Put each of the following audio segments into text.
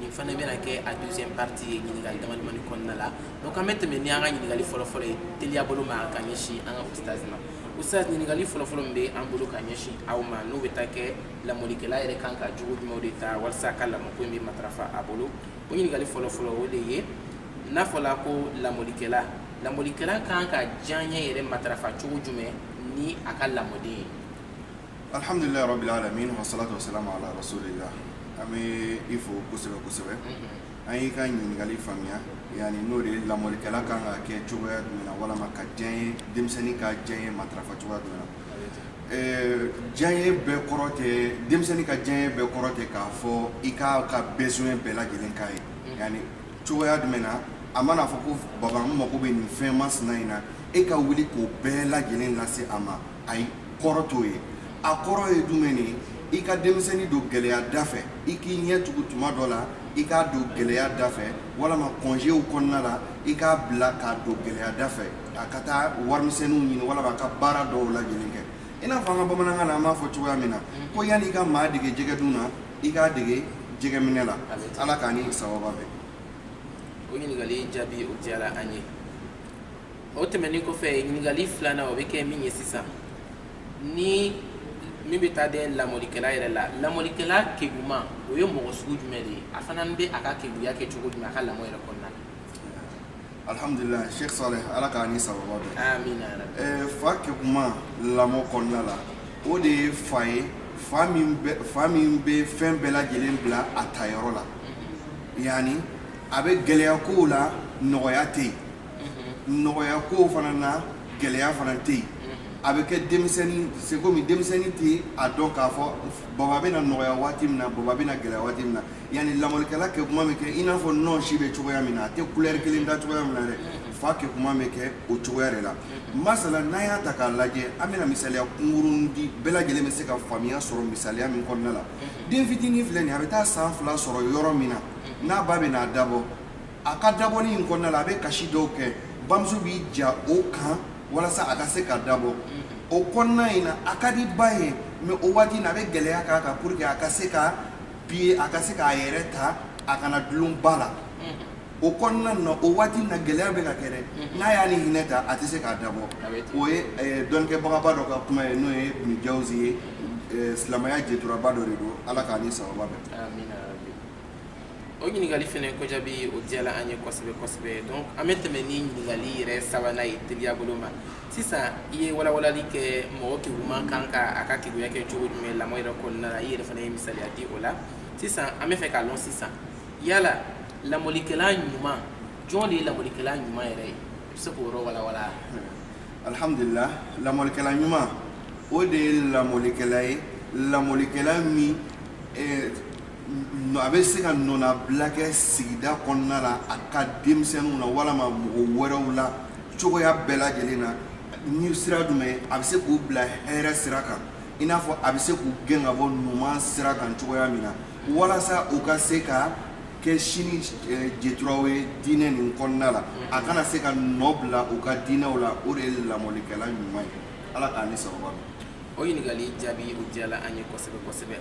nin fana bɛna kɛ a deuxième partie ye ɲininkali damadamani kɔnɔna la donc an bɛ tɛmɛ ni an ka ɲininkali fɔlɔfɔlɔ ye teliya bolo ma ka ɲɛsin an ka ustaz ma ustaz ɲininkali fɔlɔfɔlɔ min bɛ an bolo ka ɲɛsin aw ma n'o bɛ taa kɛ lamɔlikɛla yɛrɛ kan ka jogo jumɛnw de ta walasa a ka lamɔko in bɛ matarafa a bolo o ɲininkali fɔlɔfɔlɔ o de ye n'a fɔla ko lamɔlikɛla lamɔlikɛla kan ka diyaɲɛ yɛrɛ matarafa cogo jumɛn ni a ka lamɔden ye alhamdulilayi rabil alamin wa salatu wa salam ala rasulillah an bɛ i fo kosɛbɛ kosɛbɛ an y'i ka ɲininkali faamuya yani n'o de ye lamɔlikɛla kan ka kɛ cogoya jumɛn na walama ka diyaɲɛ denmisɛnnin ka diyaɲɛ matarafa cogoya jumɛn na diyaɲɛ bɛɛ kɔrɔ tɛ denmisɛnnin ka diyaɲɛ bɛɛ kɔrɔ tɛ k'a fɔ i k'a ka besoin bɛɛ lajɛlen k'a ye yani cogoya jumɛn na a mana fɔ ko baba n mago bɛ nin fɛn masina in na e ka wuli k'o bɛɛ lajɛlen lase a ma ayi kɔrɔ t'o ye a kɔrɔ ye jumɛn de ye i ka denmisɛnnin don gɛlɛya da fɛ i k'i ɲɛ tugu tuma dɔ la i k'a don gɛlɛya da fɛ walama congéw kɔnɔna la i k'a bila k'a don gɛlɛya da fɛ a ka taa warimisɛnninw ɲini walama a ka baara dɔw laɲini kɛ i n'a fɔ an ka bamanankan na an b'a fɔ cogoya min na ko yanni i ka maa dege jɛgɛdun na i k'a dege jɛgɛminɛ la ala k'a ni sawaba bɛn o ɲininkali jaabi o diyara an ye o tɛmɛnen kɔfɛ ɲininkali filanan o bɛ kɛ min ye sisan ni min bɛ taa dɛ lamɔlikɛla yɛrɛ la lamɔlikɛla keguman o ye mɔgɔ sugu jumɛn de ye a fana bɛ a ka keguya kɛ cogo jumɛn a ka lamɔ yɛrɛ kɔnɔna na alhamdulilayi sheikh saleh ala k'a ni sawaba bɛn amina ɛɛ fa keguman lamɔ kɔnɔna la o de ye fa ye fa min bɛ fa min bɛ fɛn bɛɛ lajɛlen bila a ta yɔrɔ la yani a bɛ gɛlɛya kow la nɔgɔya tɛ yen nɔgɔya kow fana na gɛlɛya fana tɛ yen a bɛ kɛ denmisɛnnin c'est comme denmisɛnnin tɛ a dɔn k'a fɔ baba bɛna nɔgɔya waati min na baba bɛna gɛlɛya waati min na yani lamɔlikɛla keguman bɛ kɛ i n'a fɔ nɔnsi bɛ cogoya min na a tɛ couleur kelen ta cogoya min na dɛ fa keguman bɛ kɛ o cogoya de la masala n'an y'a ta k'a lajɛ an bɛna misaliya kunkurunni di bɛɛ lajɛlen bɛ se ka faamuya sɔrɔ misaliya min kɔnɔna la den fitinin filɛ nin ye a bɛ taa san fila sɔrɔ yɔrɔ min na n'a ba bɛna a dabɔ a ka dabɔli in kɔnɔna la a bɛ kasi dɔw kɛ bamuso b'i ja o kan walasa a ka se ka dabɔ o kɔnɔna in na a ka di ba ye mais o waati na a bɛ gɛlɛya k'a kan pour que a ka se ka bi a ka se k'a yɛrɛ ta a kana dulon ba la o kɔnɔna na o waati na gɛlɛya bɛ ka kɛ dɛ n'a y'a ni hinɛ ta a tɛ se k'a dabɔ o ye dɔnkɛbagaba dɔ ka kuma ye n'o ye ibnu jawzi ye silamɛya jɛturaba dɔ de don ala k'a ni sawaba bɛn o ɲininkali fana ko jaabi o diyala an ye kosɛbɛ kosɛbɛ donc an bɛ tɛmɛ ni ɲininkali yɛrɛ sabanan ye teliya bolo ma sisan i ye walawalali kɛ mɔgɔ keguman kan ka a ka keguya kɛ cogo jumɛn lamɔ yɛrɛ kɔnɔna la i yɛrɛ fana ye misaliya di o la sisan an bɛ fɛ k'a lɔn sisan yala lamɔlikɛla ɲuman jɔn de ye lamɔlikɛla ɲuman yɛrɛ ye i bɛ se k'o yɔrɔ walawala alhamdulillah lamɔlikɛla ɲuman o de ye lamɔlikɛla ye lamɔlikɛla min eh, a bɛ se ka nɔnabila kɛ sigida kɔnɔna la a ka denmisɛnninw na walima mɔgɔ wɛrɛw la cogoya bɛɛ lajɛlen na ni sira jumɛn a bɛ se k'u bila hɛrɛ sira kan i n'a fɔ a bɛ se k'u gɛn ka bɔ numan sira kan cogoya min na walasa u ka se ka kɛ sini eh, jeturaw ye diinɛ nin kɔnɔna la a kana se ka nɔ bila u ka diinɛw la o de ye lamɔlikɛla ɲuman ye ala k'an ni sababa o ɲininkali jaabi o diyala an ye kosɛbɛ kosɛbɛ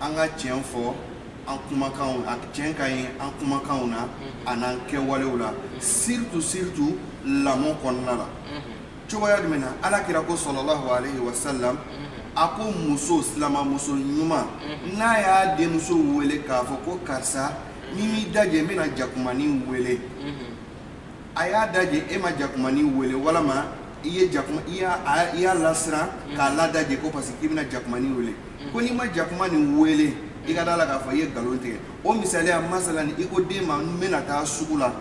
an ka tiɲɛ fɔ an kumakanw na tiɲɛ ka ye an kumakanw na a n'an kɛwalew la surtout surtout lamɔ kɔnɔna la cogoya jumɛn na ala kira ko sallallahu alayhi wa sallam a ko muso silamamuso ɲuman n'a y'a denmuso wele k'a fɔ ko karisa n'i m'i dajɛ n bɛna jakumanin wele a y'a daje e ma jakumani wele walama i ye jakuma i y'a a- i y'a lasiran k'a ladaje ko parce que k'i bɛna jakumani wele ko n'i ma jakuma nin wele i ka da la k'a fɔ i ye nkalon tigɛ o misaliya masalan ni i ko den ma n bɛna taa sugu la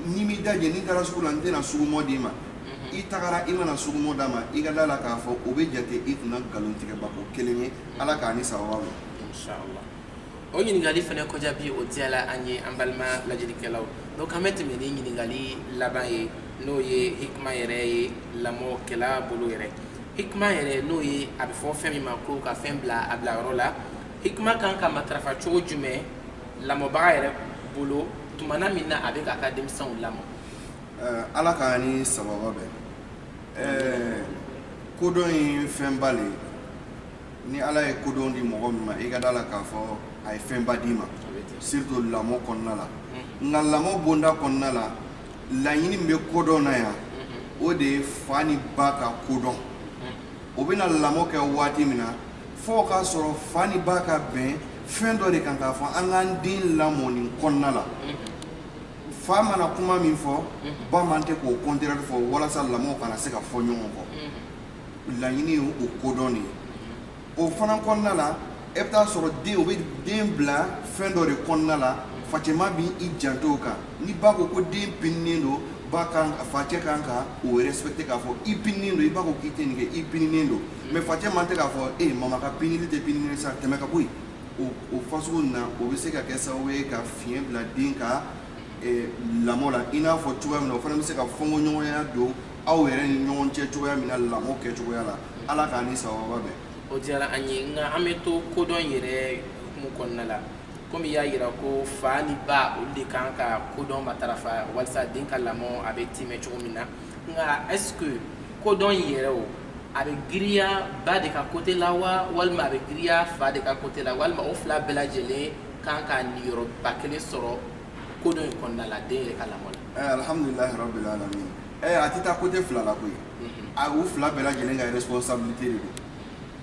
n'i m'i daje ni n taara sugu la n tɛna sugumɔ d'i ma i tagara i mana sugumɔ d'a ma i ka da la k'a fɔ o bɛ jate i kunna nkalon tigɛbako kelen ye ala k'an ni sababa bɛn Inshallah. o ɲininkali fana ko jaabi o diyala an ye an balima lajɛlikɛlaw donc an bɛ tɛmɛ ni ɲininkali laban ye n'o ye hikima yɛrɛ ye lamɔkɛla bolo yɛrɛ hikima yɛrɛ n'o ye a bɛ fɔ fɛn min ma ko ka fɛn bila a bila yɔrɔ la hikima kan ka matarafa cogo jumɛn lamɔbaga yɛrɛ bolo tumana min na a bɛ k'a ka denmisɛnw lamɔ eh, ala k'an ni sababa bɛn eh, kodɔn ye fɛnba le ye ni ala ye kodɔn di mɔgɔ min ma i ka da la k'a fɔ a ye fɛnba d'i ma surtout lamɔ kɔnɔna la mm-hmm. nka lamɔ bonda kɔnɔna la laɲini min bɛ kodɔn na yan mm-hmm. o de ye fa ni ba ka kodɔn mm-hmm. o bɛna lamɔ kɛ waati min na fo k'a sɔrɔ fa ni ba ka bɛn fɛn dɔ de kan k'a fɔ an k'an den lamɔ nin kɔnɔna la fa mana kuma min fɔ ba man tɛ k'o contraire fɔ walasa lamɔ kana se ka fɔ ɲɔgɔn kɔ laɲini ye o kodɔn de ye o fana kɔnɔna la e bɛ taa sɔrɔ den o bɛ den bila fɛn dɔ de kɔnɔna la facɛma bɛ i janto o kan ni ba ko ko den pininen don ba kan facɛ kan ka o respecté k'a fɔ i pininen don i ba ko k'i tɛ nin kɛ i pininen don mais facɛ man tɛ k'a fɔ e mama ka pinili tɛ pinini sa tɛmɛ ka bɔ yen o o fasugu na o bɛ se ka kɛ sababu ye ka fiɲɛ bila den ka lamɔ la i n'a fɔ cogoya min na o fana bɛ se ka fɔnkɔɲɔgɔnya don aw yɛrɛ ni ɲɔgɔn cɛ cogoya min na lamɔ kɛ cogoya la ala k'a ni sawaba bɛn o diyara an ye nka an bɛ to kodɔn yɛrɛ hukumu kɔnɔna la komi y'a yira ko fa ni ba olu de kan ka kodɔn matarafa walasa den ka lamɔ a bɛ timɛ cogo min na nka est ce que kodɔn yɛrɛ o a bɛ giriya ba de ka côté la wa walima a bɛ giriya fa de ka côté la walima o fila bɛɛ lajɛlen kan ka niyɔrɔba kelen sɔrɔ kodɔn in kɔnɔna la den yɛrɛ ka lamɔ la. ɛɛ eh, alihamudulilayi rabil alamin ɛɛ eh, a tɛ taa côté fila la koyi mhm. a u fila bɛɛ lajɛlen ka responsabilité de don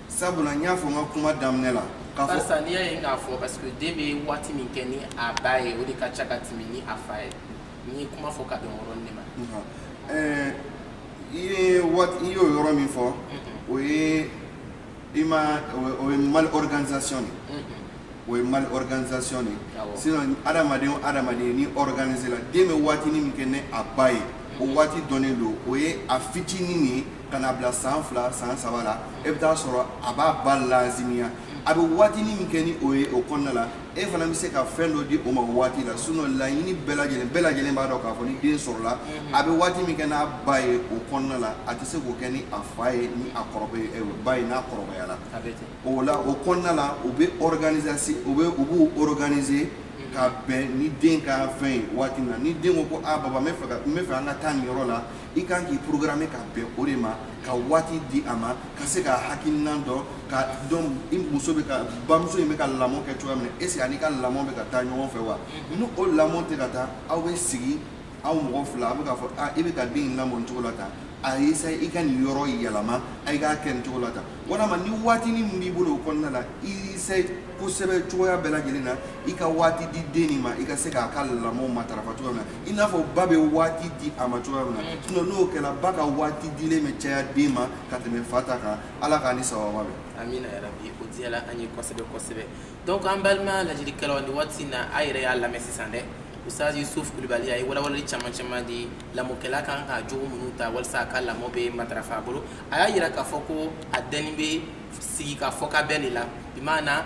sabula n y'a fɔ n ka kuma daminɛ la. barisa n'i y'a ye k'a fɔ parce que den bɛ waati min kɛ ni a ba ye o de ka ca ka tɛmɛ ni a fa ye n ye kuma fɔ ka bɛn yɔrɔ nin de ma. ɛɛ eh, i ye waati i y'o yɔrɔ min fɔ mhm. o ye. i ma o ye mal organisation de mm-hmm. o ye mal organisation de sinon adamaden o adamaden n'i organiser la den bɛ waatinin min kɛ ni a ba ye o mm-hmm. waati dɔnnen don o ye a fitinin nin ka na bila san fila san saba la e bɛ taa sɔrɔ a b'a ba lazimiya a bɛ waatinin min kɛ ni o ye o kɔnɔna la e fana bɛ se ka fɛn dɔ di o ma waati la sinon laɲini bɛɛ lajɛlen bɛɛ lajɛlen b'a dɔn k'a fɔ ni den sɔrɔla mhm. a bɛ waati min kɛ n'a ba ye o kɔnɔna la a tɛ se k'o kɛ ni a fa ye ni a kɔrɔbɛ eh, ba ye n'a kɔrɔbayala o la o kɔnɔna la u bɛ organisation u bɛ u b'u organiser mhm. ka bɛn ni den ka fɛn ye waati min na ni den ko ko a ah, baba n bɛ fɛ ka n bɛ fɛ an ka taa nin yɔrɔ la i kan k'i programmer ka bɛn o de ma ka waati di a ma ka se ka hakilinan dɔ k'a dɔn i muso bɛ ka bamuso in bɛ ka lamɔ kɛ cogoya min na est ce que a n'i ka lamɔ bɛ ka taa ɲɔgɔn fɛ wa ni o lamɔ tɛ ka taa aw bɛ sigi aw mɔgɔ fila a bɛ k'a fɔ a i bɛ ka den in lamɔ nin cogo la tan a ye sa i ka nin yɔrɔ yɛlɛma a i k'a kɛ nin cogo la tan walima ni waatinin min b'i bolo o kɔnɔna la i sa kosɛbɛ cogoya bɛɛ lajɛlen na i ka waati di den nin ma i ka se k'a ka lamɔ matarafa cogoya min na i n'a fɔ ba bɛ waati di a ma cogoya min na mm. sinon n'o kɛra ba ka waati dilen bɛ caya den ma ka tɛmɛ fa ta kan ala k'an ni sababu bɛn amina yarabi o diyala an ye kosɛbɛ kosɛbɛ donc an balima lajɛlikɛlaw ni waati in na a yɛrɛ y'a lamɛn sisan dɛ ustaz yusuf kulubali a ye walawalali caman caman di lamɔkɛla kan ka jogo minnu ta walisa a ka lamɔ bɛ matarafa a bolo a y'a yira k'a fɔ ko a dɛnni bɛ sigi ka fɔ ka bɛn de la bi maana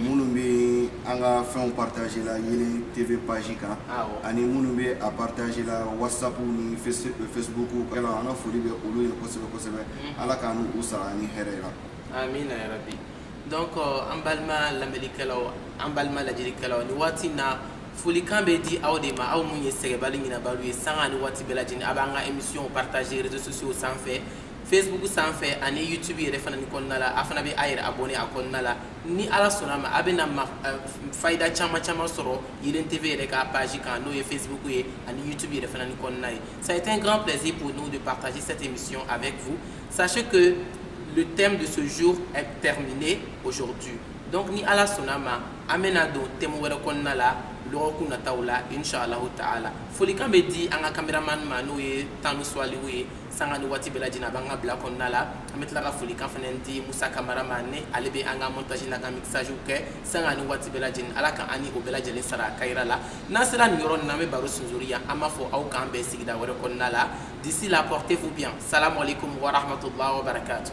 minnu bɛ an ka fɛnw partager la Yeelen TV page kan ani minnu bɛ a partager la whatsapp ni facebook kan an ka foli bɛ olu ye kosɛbɛ kosɛbɛ Ala k'an n'u sara ni hɛrɛ ye amina yarabi donc an balima lamɛnnikɛlaw an balima lajɛlikɛlaw ni waati in na folikan bɛ di aw de ma aw minnu ye sɛgɛnbali ɲinabaliw ye sanga ani waati bɛɛ lajɛlen a b'an ka émission partager réseaux sociaux sanfɛ facebook sanfɛ ani youtube yɛrɛ fana ni kɔnɔna la a fana bɛ a yɛrɛ abonné a kɔnɔna la ni ala sɔnna ma a bɛna eh, fayida caman caman sɔrɔ Yeelen TV yɛrɛ ka page kan n'o ye facebook ye ani youtube yɛrɛ fana ni kɔnɔna ye ça a été un grand plaisir pour nous de partager cette émission avec vous sachez que le thème de ce jour est terminé aujourd'hui donc ni ala sɔnna ma an bɛna don thème wɛrɛ kɔnɔna la dɔgɔkun nataw la inshallahu taala folikan bɛ di an ka cameraman ma n'o ye tanu suwaliw ye sanga ni waati bɛɛ lajɛlen a b'an ka bila kɔnɔna la an bɛ tila ka folikan fana di musa kamara ma ni ale bɛ an ka montage n'a ka mixage kɛ sanga ni waati bɛɛ lajɛlen ala ka an ni o bɛɛ lajɛlen sara kayira la n'an sera nin yɔrɔ nin na an bɛ baro sunzuri yan an b'a fɔ aw k'an bɛn sigida wɛrɛ kɔnɔna la d'ici là portez-vous bien salamu alaikum wa rahmatullahi wa barakatuh